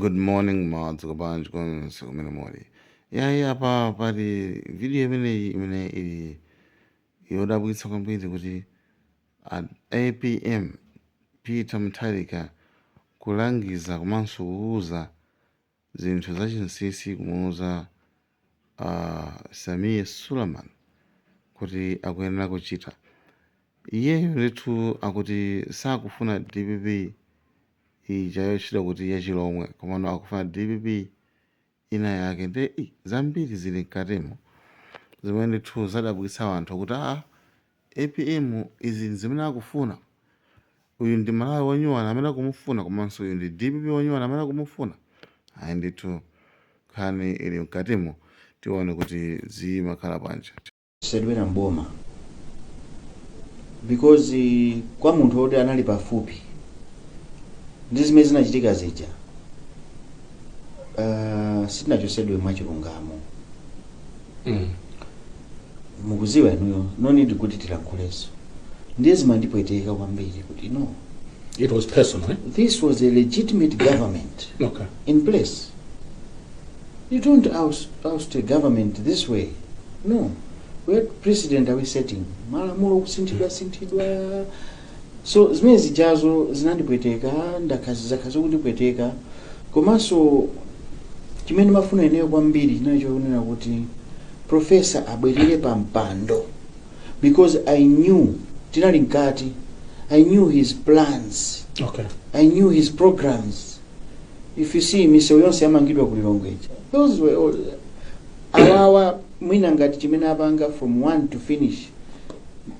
Good morning mwadzuka bwanji konse kumene muli. Yayi apa pali video imeneyi imene ili yodabwitsa kwambiri kuti a APM Peter Mutharika kulangiza komanso kuuza zinthu zachinsinsi kumuuza a Sameer Suleman kuti akuyenera kuchita. Iyeyo ndithu akuti sakufuna dpp ija yotchedwa kuti yachilomwe komano akufuna dpp ina yake nde i, zambiri zili mkatimo zimene ndithu zadabwitsa anthu kuti aa Apm izi ndzimene akufuna? Uyu ndi Malawi wonyuwana amene akumufuna komanso uyu ndi dpp wonyuwana amene akumufuna? Ayi ndithu nkhani ili mkatimu tione kuti zikhala bwanji. Sadwera mboma because kwa munthu woti anali pafupi ndi zimene zinachitika zija uh, sitinachotsedwe mwachilungamo mm. mukudziwa inuyo no need kuti tilankhulenso ndiye zimandipweteka kwambiri kuti no It was personal. Eh? this was a legitimate government Okay. in place you don't oust, oust a government this way no what precedent are we setting malamulo kusinthidwa sinthidwa so zimene zijazo zinandipweteka ndakhala zakhala zikundipweteka komanso chimene ndimafuna ineyo kwambiri chinali chokunena kuti profesa abwerere pa mpando because i knew tinali mkati i knew his plans okay i knew his programs if you see misewu yonse yamangidwa ku lilongwe ija those were all awawa mwina ngati chimene apanga from one to finish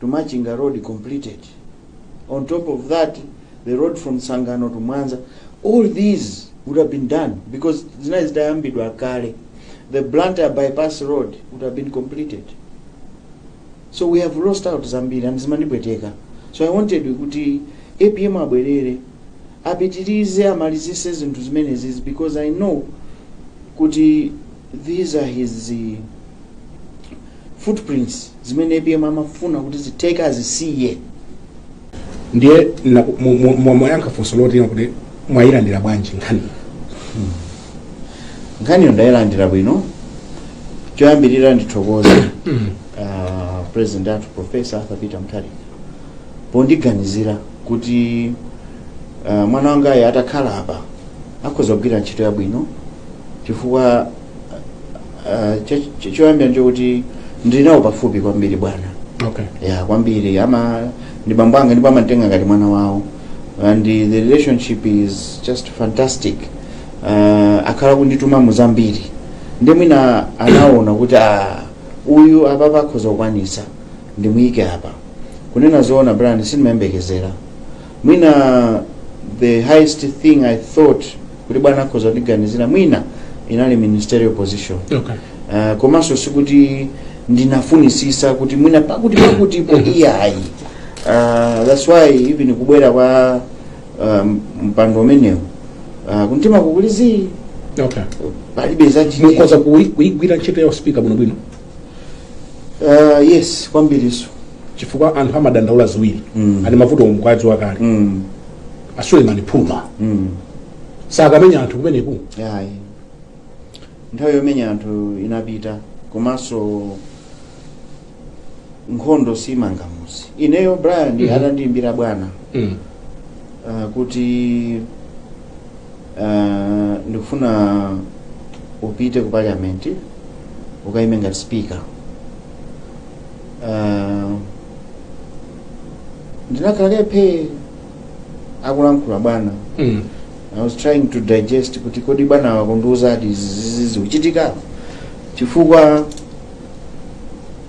to Machinga road completed on top of that the road from Tsangano to Mwanza all these would have been done because zinali zitayambidwa kale the Blantyre bypass road would have been completed so we have lost out zambiri and zimandipweteka so i wanted kuti apm abwerere apitirize amalizise zinthu zimenezi because i know kuti these are his uh, footprints zimene apm amafuna kuti zitheke azisiye ndiye na- mu- mu- mu- mwafunsa funso loti kuti mwayilandira bwanji nkhani nkhaniyo ndayilandira bwino choyambirira ndithokoze uh, president athu professor arthur peter mutharika pondiganizira kuti uh, mwana wangayu atakhala apa akhoza kugwira ntchito yabwino chifukwa ah, cho- cho- choyambirira nchokuti ndili nawo pafupi kwambiri bwana okay ya kwambiri ama ndi bambo anga ndipo amantenga ngati mwana wawo and the the relationship is just fantastic uh, akhala kundituma mu zambiri ndi mwina anaona kuti ah, uyu apapa akhoza kukwanisa ndimuyike apa kunena zoona brian sindimayembekezera mwina the highest thing i thought kuti bwana akhoza kundiganizira mwina inali ministerial position okay uh, komanso sikuti ndinafunisisa kuti mwina pakuti pakutipo iyayi uh, that's why even kubwera kwa um, mpando umenewu uh, kuntima kukulizi okay palibe zakuti mukhoza kuyi- kuyigwira ntchito ya uspika bwinobwino uh, yes kwambiriso chifukwa anthu amadandaula ziwiri Mm. ati mavuto omukwazi wakale mm. asulemani phuma mm. sakamenya anthu kumeneku iyayi nthawi yomenya anthu inapita komanso nkhondo simanga muzi ineyo brian Mhm. atandiimbira bwana mm. uh, kuti Uh, ndikufuna upite ku parliament ukaime ngati speaker uh, ndinakhala phee akulankhula bwana Mm. i was trying to digest kuti kodi bwana akundiuza ati zizizi zikuchitika chifukwa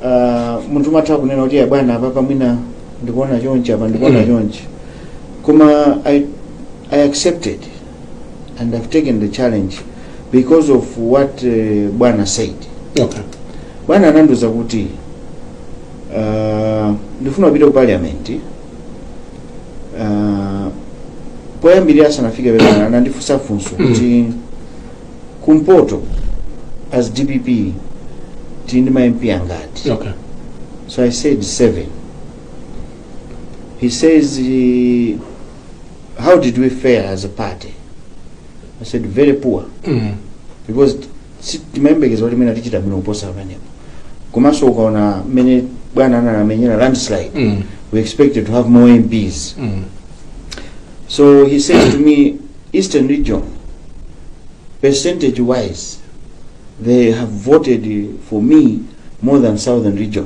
uh, munthu umatha kunena kuti "Ya bwana apapa mwina ndikuona chonchi apa ndikuona Mm. chonchi koma i I accepted and I've taken the challenge because of what uh, Bwana said. okay Bwana anandiuza kuti uh, ndifuna upite ku parliament uh, poyambirira asanafike pepana anandifunsa funso kuti kumpoto as dpp tili ndi ma mp angati okay So I said seven. He says, eh, how did we fare as a party i said very poor Mm. because si- timayembekeza kuti mene tichita bwino kuposa pamenepo komanso ukaona mmene bwana anamenyera landslide Mm. we expected to have more mps Mm. so he says to me eastern region percentage wise they have voted for me more than southern region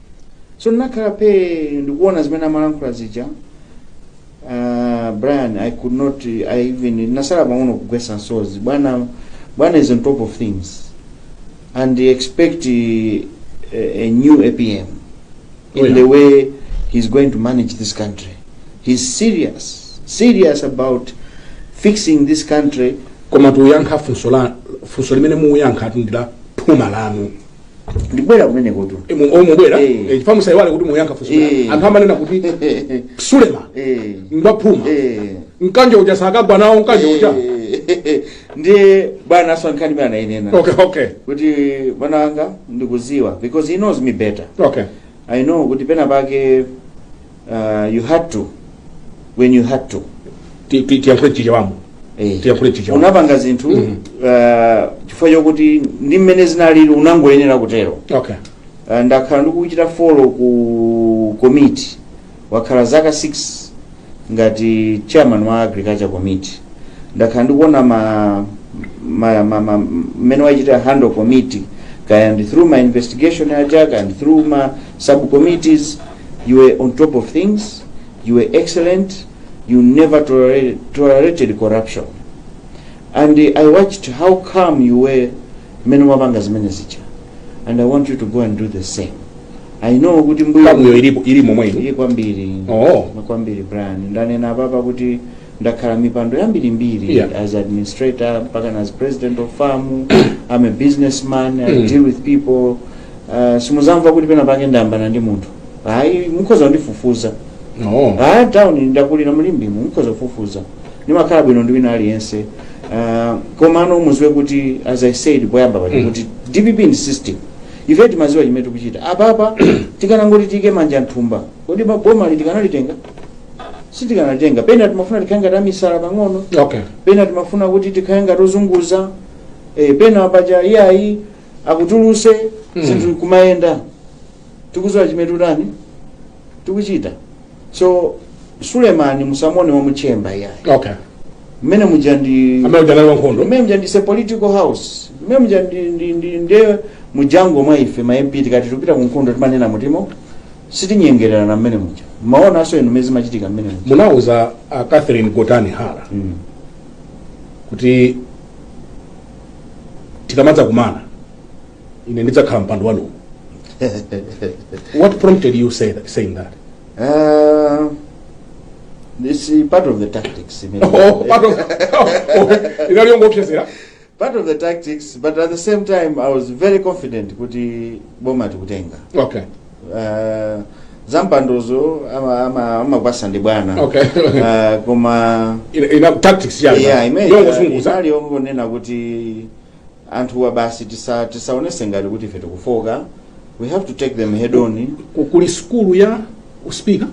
so ndinakhala phee ndikuona zimene amalankhula zija uh, brian i could not i even ndinasala pang'ono kugwesa nsozi bwana bwana is on top of things and expect uh, a, a new apm Oh, in yeah. the way he's going to manage this country he's serious serious about fixing this country koma muyankha funso la funso limene muyankhetu ndi la phuma lanu ndibwera kumenekotu Eh, mu- oh, mubwera Eh. Eh, chifukwa musaiwale kuti muyankha funso Eh. anthu amanena kuti sulema Eh. ngwaphuma Eh. mkanjo uja sakagwa nawo mkanjo uja Eh, ndiye bwana pa nkhani imene anainena okay okay kuti mwana wanga ndikuziwa because he knows me better okay i know kuti pena pake Uh, you had to when you had to Ti- ti- tiyankhule chichewamu Eh. Tiyakhule chichewa. unapanga zinthu Mhm. uh, chifukwa chokuti ndi mmene zinalili unangoyenera kutero okay Uh, ndakhala ndikuchita follow ku committee wakhala zaka 6 ngati chairman wa agriculture committee ndakhala ndikuona ma ma- ma- ma- mmene wachita handle committee kaya ndi through ma investigation aja kaya ndi through ma subcommittees You were on top of things, you were excellent, you never tolerated, tolerated corruption. And uh, I watched how calm you were mmene wapanga zimene zija. And I want you to go and do the same. I know kuti nguyo kangoyo ilipo ili momwe ino ili kwambiri Oh. kwambiri Brian ndanena apapa kuti ndakhala mipando yambirimbiri Yeah. as administrator mpaka as president of FAM I'm a businessman I Mm. deal with people uh, simuzamva kuti pena pake ndayambana ndi munthu ayi mukhoza kundifufuza no ah town ndakulira mu Limbe mu mukhoza kufufuza ndimakhala bwino ndi wina aliyense Ah, komano muziwe kuti as i said poyamba paja Mm. kuti dpp ndi system ife timaziwa chimene tikuchita apapa tikanangoti tiike manja m'thumba kodi boma likanalitenga sitikanalitenga pena timafuna tikhale ngati amisala pang'ono okay pena timafuna kuti tikhale ngati ozunguza eh, pena paja iyayi akutuluse Mm. zinthu kumayenda tikuziwa chimene tutani tikuchita so sulemani musamuone wa mu chamber iyayi okay mmene muja ndi amene ujanali wa nkhondo mmene muja ndi political house mmene muja ndi- ndi- ndi- nde mu jungle mwa ife ma mp tikati tupita ku nkhondo timanena muthemo sitinyengererana mmene muja mmaonaso inu mmene zimachitika mmene muja munauza a catherine gotani hara Mm. kuti tikamadza kumana ine ndidzakhala pampando wanuwo what prompted you say that, saying that Uh, this is part of the tactics. you know. oh, part of, oh, inali yongoopseza part of the tactics but at the same time i was very confident kuti boma tikutenga okay uh, zampandozo ama- ama- amagawa ndi bwana Okay. uh, koma ina, ina tactics yanga yeah, imene yongozunguza inali yongonena kuti anthuwa basi tisa- tisaonese ngati kuti ife tikufoka We have to take them head on. Ku- kuli sukulu ya uspika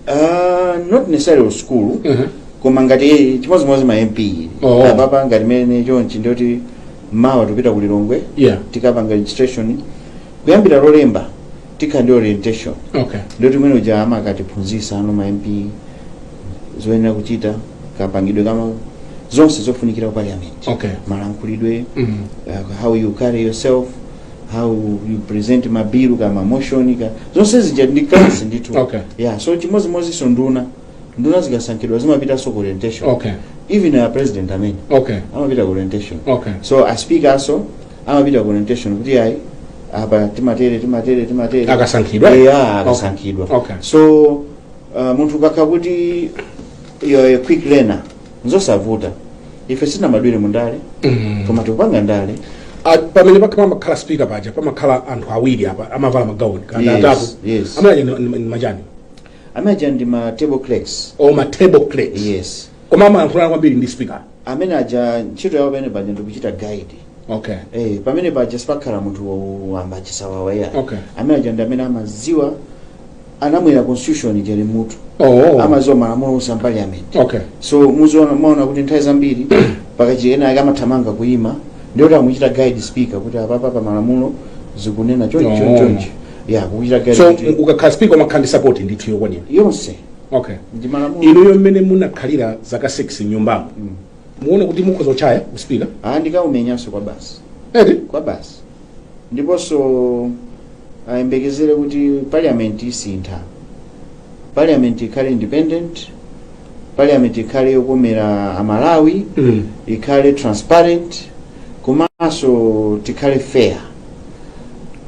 Uh, not necessarily school. Mhm. Koma ngati chimodzimodzi ma MP. Oh. Apapa ngati mmene chonchi nde kuti mawa tupita ku Lilongwe. yeah Tikapanga registration. Kuyambira lolemba tikhala ndi orientation. okay Nde kuti mmene muja amakatiphunzisa anu ma MP zoyenera kuchita kapangidwe ka ma zonse zofunikira ku parliament. Okay. Malankhulidwe. Mhm. uh, how you carry yourself how you present mabilu ka mamoshoni ka zonse zija ndi class ndithu Okay. yeah so chimodzimodzinso nduna nduna zikasankhidwa zimapitanso ku orientation okay even a president amene okay amapita ku orientation okay so a speaker naso amapita ku orientation kuti ayi apa timatere timatere timatere Akasankhidwa? yeah akasankhidwa Okay. so uh, munthu ukakhala kuti you're a quick learner nzosavuta ife sitinabadwire mu ndale koma tikupanga ndale Ah, pamene pakha pamakhala speaker paja pamakhala anthu awiri apa amavala magauni kana Yes, atatu yes. amene aja ndi- ndi ndi machani amene aja ndi ma table clerks o ma table clerks yes koma amayankhulana kwambiri ndi speaker amene aja ntchito yawo pamene paja ndikuchita guide okay Eh, pamene paja sipakhala munthu wamba chisawawa iyayi Okay. amene aja ndi amene amaziwa anamwera constitution ija ili mutu oh amaziwa malamulo onse a parliament okay so muziona kuti nthawi zambiri pakachi ena ake amathamanga kuima ndiye kuti amuchita guide speaker kuti apapa pa malamulo zikunena chonchi chonchi chonchi ya kuchita guide so kuti ukakhala speaker umakhala ndi support ndithu yokwanira yonse okay ndi malamulo inuyo mmene munakhalira zaka 6 nyumbamo muona kuti mukhoza kuchaya uspika ah ndikaumenyanso kwa basi eti kwa basi ndiponso ayembekezere kuti parliament isintha parliament ikhale independent parliament ikhale yokomera amalawi Mm. ikhale transparent komanso tikhale fair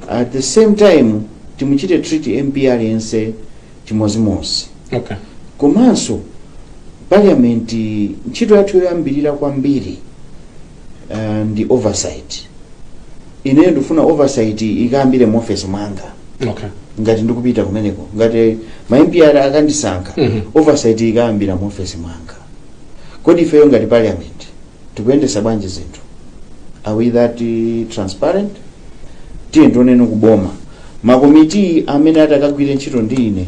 at the same time timuchite treat mp aliyense chimozimozi okay komanso parliament ntchito yathu yoyambirira kwambiri uh, ndi oversight ineyo ndifuna oversight ikayambire mu office mwanga okay ngati ndikupita kumeneko ngati ma MP akandisankha Mhm. oversight ikayambira mu office mwanga kodi ifeyo ngati parliament tikuyendesa bwanji zinthu are we that eh, transparent tiyeni tioneno kuboma makomiti amene atakagwire ntchito ndi ine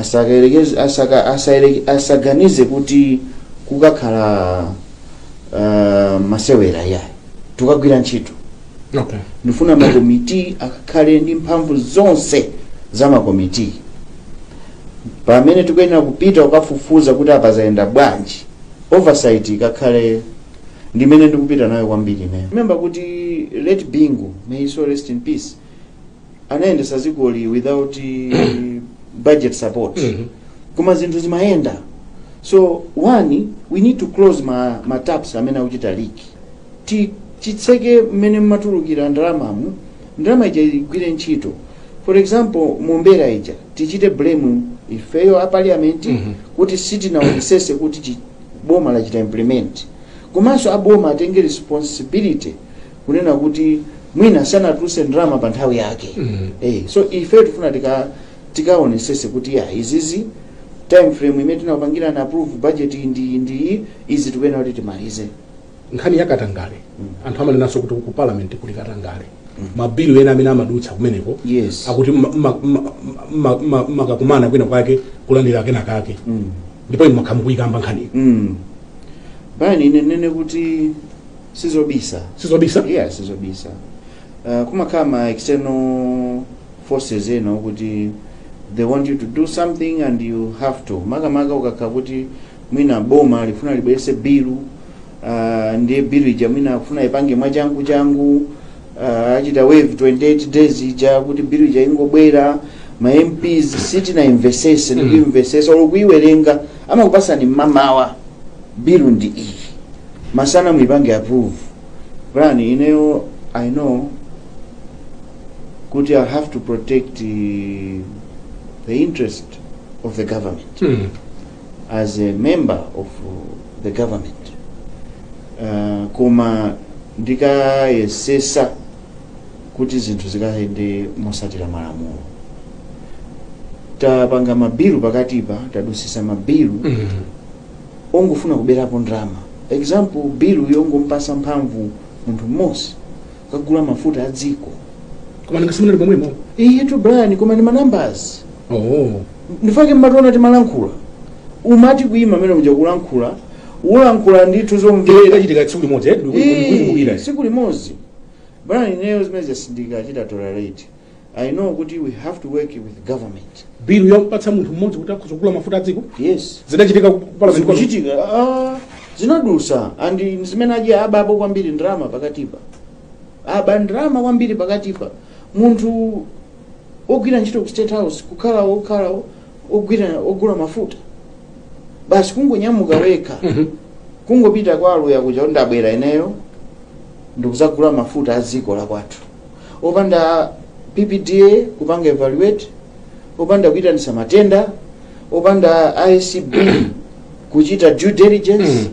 asakayerekeze- asaka- asayere- asaganize kuti kukakhala uh, masewera iyayi tukagwira ntchito okay ndifuna makomiti akakhale ndi mphamvu zonse za makomiti pamene tikuyenera kupita kukafufuza kuti apa zayenda bwanji oversight ikakhale ndimene ndikupita nayo kwambiri ineyo remember kuti late bingu may his soul rest in peace anayendesa zikoli without budget support Mhm. koma zinthu zimayenda so one we need to close ma, ma taps amene akuchita leak Ti- titseke mmene mmatulukira ndalamamu ndalama ija igwire ntchito for example mombera ija tichite blame ifeyo a parliament Mhm. kuti sitinaonesese kuti chi- boma lachita implement komanso aboma atenge responsibility kunena kuti mwina sanatuluse ndalama pa nthawi yake mm. eh, so ife tifuna tikaonesese kuti ya izizi time frame imene tinapangira na approve budget ndi ndi izi tikuyena kuti timalize nkhani ya katangale mm. anthu amanenanso kuti ku parliament kuli katangale mm. mabilu ena amene amadutsa kumeneko yes. akuti mumakakumana kwina kwake kulandira kena kake mm. ndipo inu mukhamayikamba nkhani mm. Brian ine ndinene kuti sizobisa sizobisa yeah sizobisa uh, kumakhala ma external forces ena okuti they want you to do something and you have to makamaka ukakhala kuti mwina boma lifuna libwerese bilu uh, ndiye bilu ija mwina afuna ipange mwachangu changu Ah, achita waive 28 days ija kuti bill ija ingobwera ma mps sitinaimvesese Mm. kuimvesesa olo kuiwerenga amakupasani mmamawa bill ndi iyi masana muipange approve Brian ineyo i know kuti i have to protect eh, the interest of the government Mm. as a member of the government uh, koma ndikayesesa kuti zinthu zikayende mosatira malamulo tapanga mabilu pakatipa tadusisa mabilu mm. ongofuna kuberapo ndalama example bilu yongompasa mphamvu munthu mmodzi kukagula mafuta a dziko koma nanga simunali pomwemo eetu brian koma ndi ma numbers oh ndi chifukwa mumationa timalankhula umati kuima amene uja kulankhula ulankhula ndithu zomvera zidachitika tsiku limodzi eh, ndikukumbukira. Ii, siku limodzi brian ineyo zimene zoti sindikachita tolerate I know kuti we have to work with government. bilu yomupatsa munthu mmodzi kuti akhoza kugula mafuta a dziko Yes. zidachitika ku parliament kwanu? Zidachitika ah, zinadusa and ndimmene aja abapo kwambiri ndalama pakatipa. Aba ndalama kwambiri pakatipa. Munthu ogwira ntchito ku State House kukhala okhala ogwira ogula mafuta. Basi kungonyamuka wekha. Mhm. kungopita kwa aluya kuja kuti ndabwera ineyo ndikuzagula mafuta a dziko la kwathu opanda PPDA kupanga evaluate, opanda kuitanisa matenda, opanda ACB kuchita due diligence, Mm.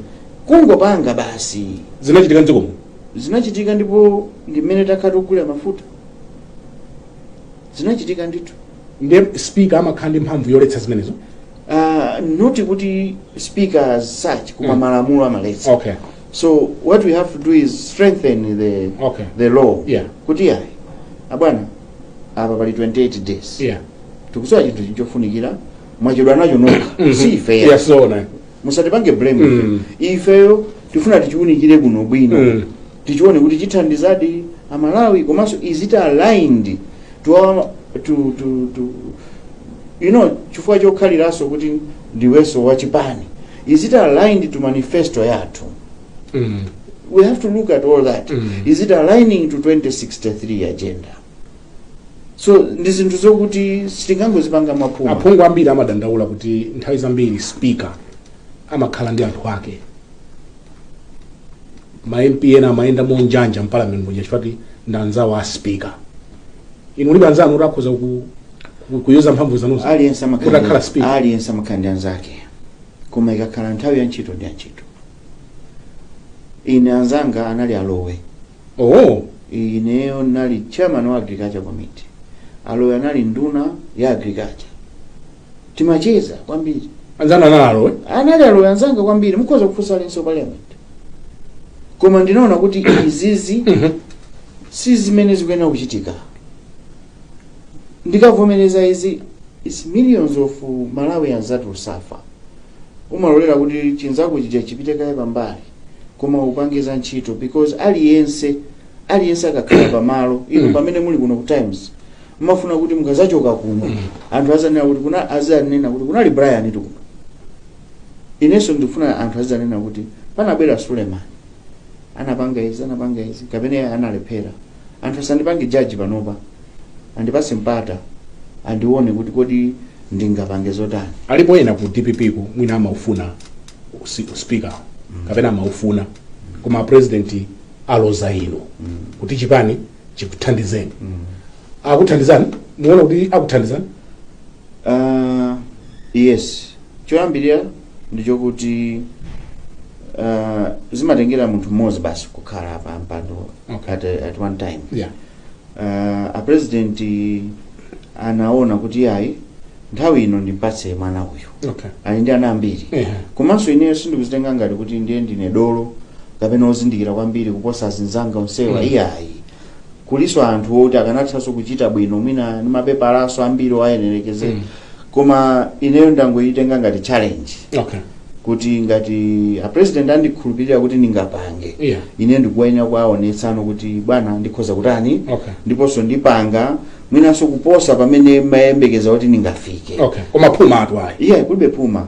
kungopanga basi. zinachitika mdziko muno Zinachitika ndipo ndi mmene takhala tikugulira mafuta. Zinachitika ndithu. ndiye speaker amakhala ndi mphamvu yoletsa zimenezo Uh, not kuti speaker as such koma Mm. malamulo amaletsa. okay so what we have to do is strengthen the, Okay. the law Yeah. kuti ayi abwana apa pali 28 days yeah tikusowa chinthu chofunikira mwachedwa nacho nokha si ifeyo yeah so na musatipange blame Mm. ifeyo tifuna tichiunikire bwino bwino Mm. tichione kuti chithandizadi amalawi komanso is it aligned to, our- to, to, to you know chifukwa chokhaliranso kuti ndiwenso wachipani Is it aligned to manifesto yathu? Mm. We have to look at all that. Mm. Is it aligning to 2063 agenda? So ndi zinthu zokuti sitingangozipanga mwaphuma. aphungu ambiri amadandaula kuti nthawi zambiri speaker amakhala ndi anthu ake ma mp ena amayenda monjanja mpalamentu muja chifukwa kuti ndi anzawo a speaker inu mulibe anzanu kuti akhoza ku Ku- kuyuza mphamvu zanuzo aliyense amakhala ndi- Mudakhala speed. aliyense amakhala ndi anzake koma ikakhala nthawi ya ntchito ndi ya ntchito ine anzanga anali a Lowe oh ineyo nali chairman wa agriculture committee a Lowe anali nduna ya agriculture timacheza kwambiri anzanu anali a Lowe anali a Lowe anzanga kwambiri mukhoza kufunsa aliyense wa parliament koma ndinaona kuti izizi si zimene zikuyenera kuchitika ndikavomereza izi its millions of malawians that will suffer umalolera kuti chinzako chija chipite kaye pambali koma upange za ntchito because aliyense aliyense akakhala pamalo inu pamene muli kuno ku times mmafuna kuti mukazachoka kuno anthu azanena kuti kuna azanena kuti kunali Briantu kuno inenso ndikufuna anthu azanena kuti panabwera suleman anapanga izi anapanga izi kapena iye analephera anthu asandipange judge panopa andipase mpata andione kuti kodi ndingapange zotani alipo ena ku dppko mwina amaufuna usi- speaker kapena amaufuna koma president aloza inu kuti chipani chikuthandizeni akuthandizani muona kuti akuthandizani uh, yes choyambirira ndichokuti uh, zimatengera munthu mmodzi basi kukhala pa mpando Okay. at, a- at one time yeah uh, a president anaona kuti yayi nthawi ino ndimpatse mwana uyu okay ali ndi ana ambiri yeah komanso ineyo sindikuzitenga ngati kuti ndiye ndine dolo kapena ozindikira kwambiri kuposa azinzanga onsewa Mm. iyayi kuliso anthu oti akanathanso kuchita bwino mwina ndi mapepalaso ambiri owayenereza Mm. koma ineyo ndangoyitenga ngati challenge okay kuti ngati a president andikhulupirira kuti ndingapange yeah ine ndikuyenera kuwaonetsano kuti bwana ndikhoza kutani okay ndiponso ndipanga mwinanso kuposa pamene mmayembekeza kuti ndingafike okay koma phuma atwaye iye kulibe phuma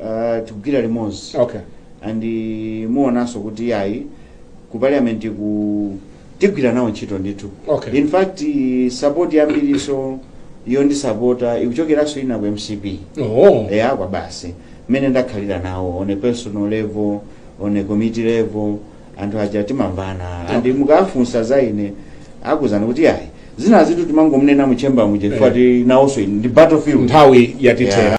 uh, tikugwira limodzi okay and eh, muonanso kuti ayi ku parliament ku tigwira nawo ntchito ndithu Okay. in fact eh, support yambiriso yondisapota ikuchokeranso ina ku mcp oh eya kwa basi mmene ndakhalira nawo on a personal level on a committee level anthu aja timamvana and mukafunsa za ine akuuzani kuti ayi zina zitu timangomunena mu chamber muja chifukwa Eh. ti nawonso ndi battlefield nthawi yatithera